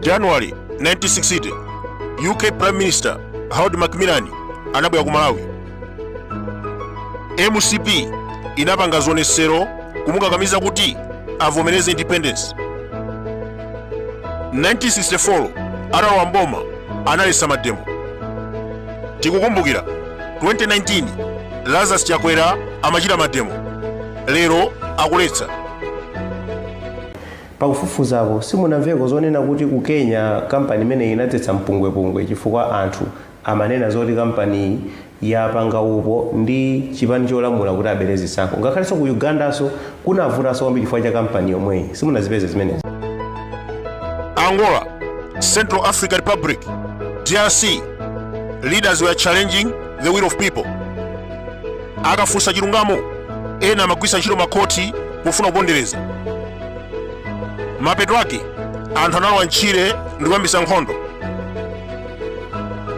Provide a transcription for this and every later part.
january 1960 uk prime minister harold macmillan anabwera ku malawi mcp inapanga zionetsero kumukakamiza kuti avomereze independence 1964 atalowa mboma analetsa mademo tikukumbukira 2019 lazarus chakwera amachita mademo lero akuletsa pakufufuzapo simunamveko zonena kuti ku kenya kampani imeneyi inadzetsa mpungwepungwe chifukwa anthu amanena zoti kampaniyi yapanga upo ndi chipani cholamula kuti abere zisankho ngakhalenso ku ugandanso kunavutanso kwambiri chifukwa cha kampani yomweyi simunazipeze zimenezi Angola, Central Africa Republic, DRC. Leaders were challenging the will of people. akafunsa chilungamo ena amagwiritsa ntchito makhoti pofuna kupondereza mapeto ake anthu analowa ntchire ndi kuyambitsa nkhondo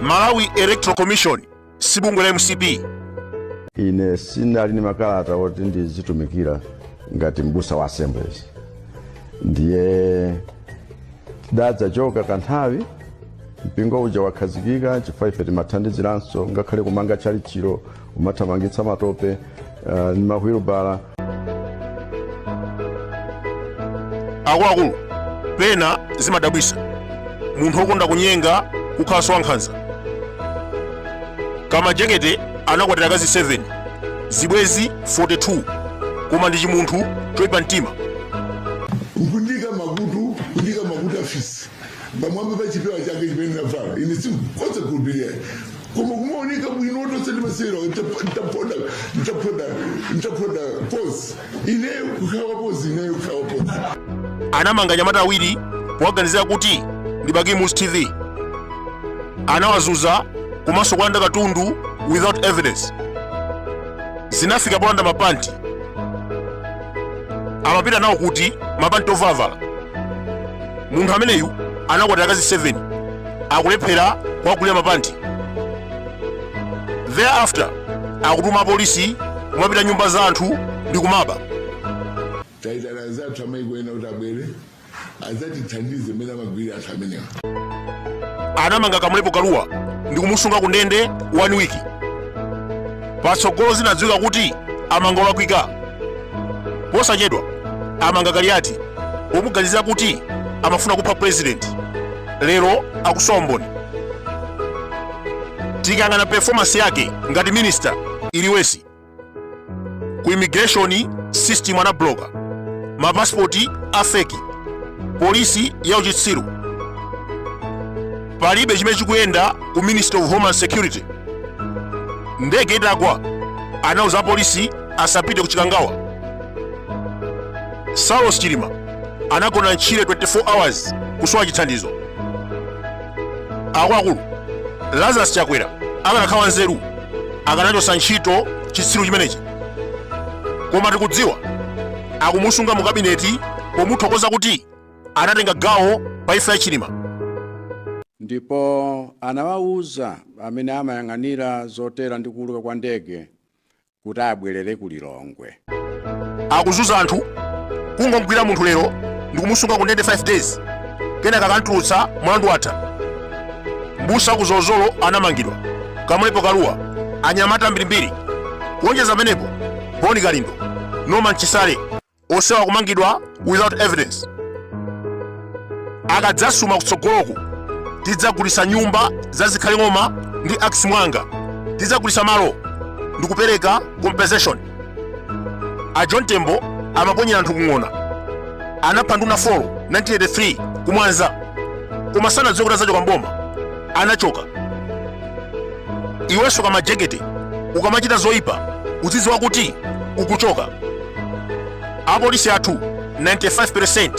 malawi electoral commission si bungwe la mcp ine sinali ndi makalata oti ndizitumikira ngati mbusa wa assemblies ndiye tidadzachoka kanthawi mpingo uja wakhazikika chifukwa ife timathandiziranso ngakhale kumanga tchalitchilo umathamangitsa matope uh, ndi mahwilubala akuluakulu pena zimadabwitsa munthu wokonda kunyenga kukhalanso wankhanza kamajekete anakwatira akazi 7 zibwezi 42 koma ndi chimunthu choipa mtima kundika makutu kundika makutu afisi pamwamba pa chipewa chake chimene ndinavala ine sinkhoza kulupirira koma kumaoneka bwino otonse ndimasewera ntapoda ntapoda ntapoda pozi ineyo kukhawa pozi ineyo kukhawa pozi anamanga anyamata awiri powaganizira kuti ndi bagimus tv anawazunza komanso kuwalanda katundu without evidence zinafika polanda mapanti amapita nawo kuti mapanti ovalavala munthu ameneyu anakwatira akazi 7 akulephera kuwagulira mapanti thereafter akutuma apolisi kumapita m'nyumba za anthu ndi kumaba taitana anzathu amaiko ena kuti abwere adzatithandize mmene amagwirira anthu amenewa anamanga kamulepo kaluwa ndi kumusunga ku ndende one week patsogolo zinadziwika kuti amanga olakwika posachedwa amanga kaliyati pomuganizira kuti amafuna kupha president lero akusowa mboni tikayang'ana performance yake ngati minister iliwesi ku immigration system anabloka mapasipoti a feki polisi ya uchitsiru palibe chimene chikuyenda ku ministry of homeland security ndege itagwa anauza apolisi asapite ku chikangawa saulos chilima anagona ntchire 24 hours kusowa chithandizo akuluakulu lazarus chakwera akanakhala nzeru akanachotsa ntchito chitsiru chimenechi koma tikudziwa akumusunga mu kabineti pomuthokoza kuti anatenga gawo pa imfa ya chilima ndipo anawawuza amene amayang'anira zotera ndi kuuluka kwa ndege kuti abwerere ku lilongwe akuzuza anthu kungomgwira munthu lero ndikumusunga ku ndende 5 days kenaka akantulutsa mlandu watha mbusa wa ku zolozolo anamangidwa kamulepo kaluwa anyamata ambirimbiri kuonjeza pamenepo boni kalindo norman chisale onsewa kumangidwa without evidence akadzasuma kutsogoloku tidzagulisa nyumba za zikhale ng'oma ndi akis mwanga tidzagulisa malo ndikupereka compensation a john tembo amaponyera anthu ku ng'ona anapha nduna 4 1983 ku mwanza koma sanadziwe kuti azachoka mboma anachoka iwenso kamajekete ukamachita zoyipa uzidziwa kuti ukuchoka apolisi athu 95%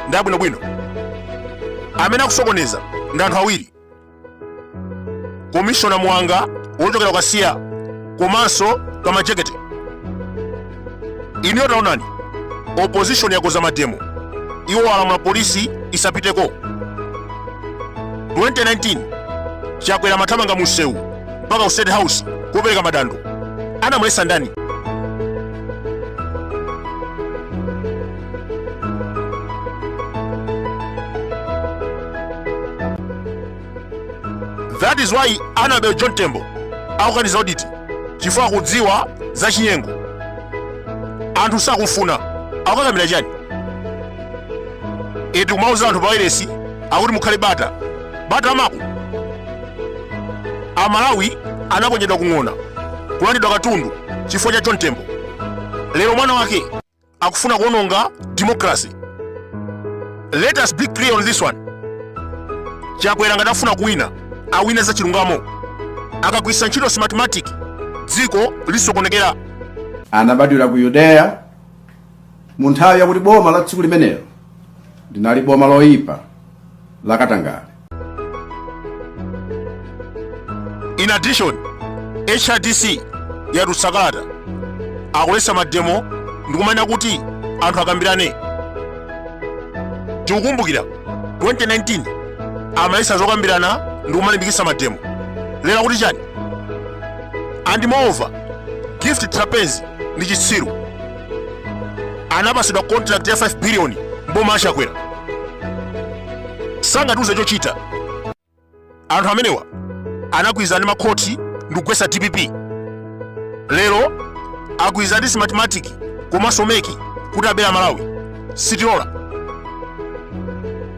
ndi abwinobwino amene akusokoneza ndi anthu awiri komishona mwanga wochokera ku kasiya komanso kamajekete inuyo taonani opposition yakoza mademo iwo alamula polisi isapiteko 2019 chakwera mathamanga mu msewu mpaka ku state house kukapereka madandu anamulesa ndani that is why anabel john tembo akukaniza oditi chifukwa akudziwa za chinyengo anthu sakumfuna akukakamira chani eti kumauza anthu pawailesi akuti mukhale bata bata amako amalawi anaponyedwa ku ng'ona kulandidwa katundu chifukwa cha john tembo lero mwana wake akufuna kuononga democracy let us be clear on this one chakwera ngati afuna kuwina awine za chilungamo akagwiritsa ntchito smartmatic dziko lisokonekera anabadwira ku yudeya mu nthawi yakuti boma la tsiku limenelo linali boma loyipa la katangale In addition, HRDC yatusakata akuletsa mademo ndikumanena kuti anthu akambirane tikukumbukira 2019 amaletsa zokambirana ndikumalimbikitsa mademo lero akuti chani and moreover gift trapence ndi chitsiru anapatsidwa contract ya 5 billion mboma achakwera sangatiuze chochita anthu amenewa anagwirizana ndi makhoti ndikugwetsa dpp lero agwirizana ndi smartmatic komanso meki kuti abere amalawi sitilola